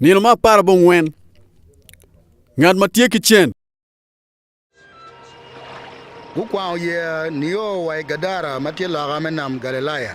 Nino me apar abongwen Ngat ma tye ki cen Gukwango yeya nio wa i Gadara ma tye loka me nam Galilaya.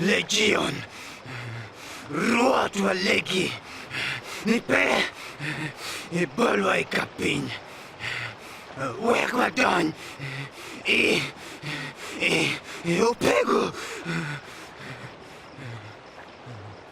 Legion, Rwotwa legi ni pe ibolwa i ka piny wek wadony i opego.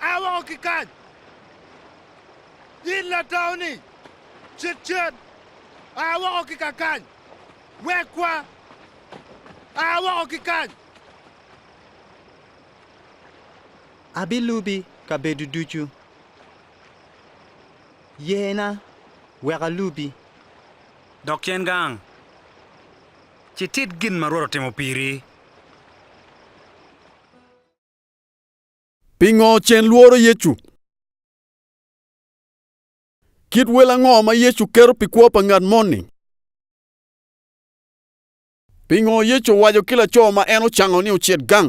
A woko ki kany, in latau-ni! Cit cen! A woko ki ka kany! Wekwa! A woko ki kany! Abilubi kabedo ducu. Yena wek alubi. Dok cen gang, ci tit gin ma Rwot otimo piri. Pingo cen lworo Yecu? Kit wel ango ma Yecu keto pi kwo pa ngat moni? Pingo Yecu owaco ki laco ma en ocango ni ocit gang?